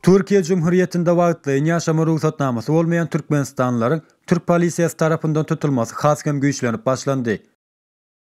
Türkiýe Cumhurýetinde wagtlaýyn ýaşama rugsatnamasy bolmaýan türkmenistanlylaryň türk polisiýasy tarapyndan tutulmasy has hem güýçlenip başlandy.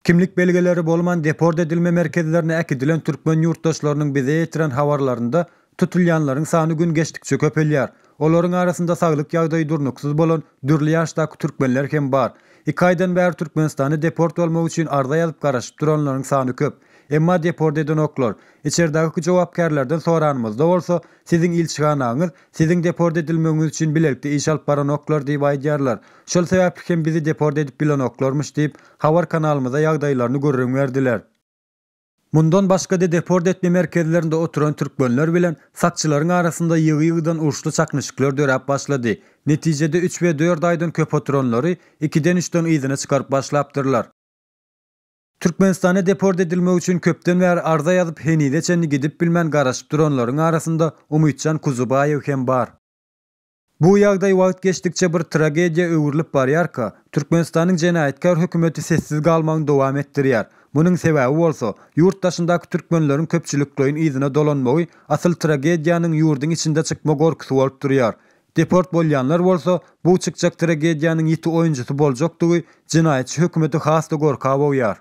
Kimlik belgileri bolman deport edilme merkezlerine äkidilen türkmen ýurtdaşlarynyň bize ýetiren habarlarynda Tutulýanlaryň sany gün geçdikçe köpelýär. Olaryň arasynda saglyk ýagdaýy durnuksyz bolan dürli ýaşdaky türkmenler hem bar. Iki aýdan bäri Türkmenistana deport bolmak üçin arza ýazyp garaşyp duranlaryň sany köp. Emma deport edenoklar. Içeridäki jogapkärlerden soranymyzda bolsa, Siziň ilçihanaňyz Siziň deport edilmegiňiz üçin bilelikde iş alyp baranoklar diýip aýdýarlar. Şol sebäpli hem bizi deport edip bilenoklarmyş diýip, habar kanalymyza ýagdaýlaryny gürrüň berdiler. Mundan başga-da deport etme merkezlerinde oturan türkmenler bilen sakçylaryň arasynda ýygy-ýygydan uruşly çaknyşyklar döräp başlady. Netijede üç we dört aýdan köp oturanlary ikiden-üçden yzyna çykaryp başlapdyrlar. Türkmenistana deport edilmek üçin köpden bäri arza ýazyp, henize çenli gidip bilmän garaşyp duranlaryň arasynda Umytjan Kuzubaýew hem bar. Bu ýagdaý wagt geçdikçe bir tragediýa öwrülip barýarka, Türkmenistanyň jenaýatkär hökümeti sessiz galmagyny dowam etdirýär. Munuň sebäbi bolsa, ýurt daşyndaky türkmenleriň köpçülikleýin yzyna dolanmagy asyl tragediýanyň ýurduň içinde çykma gorkusy bolup durýar. Deport bolýanlar bolsa, bu çykjak tragediýanyň ýiti oýunjysy boljakdygy jenaýatçy hökümeti has-da gorka bogýar.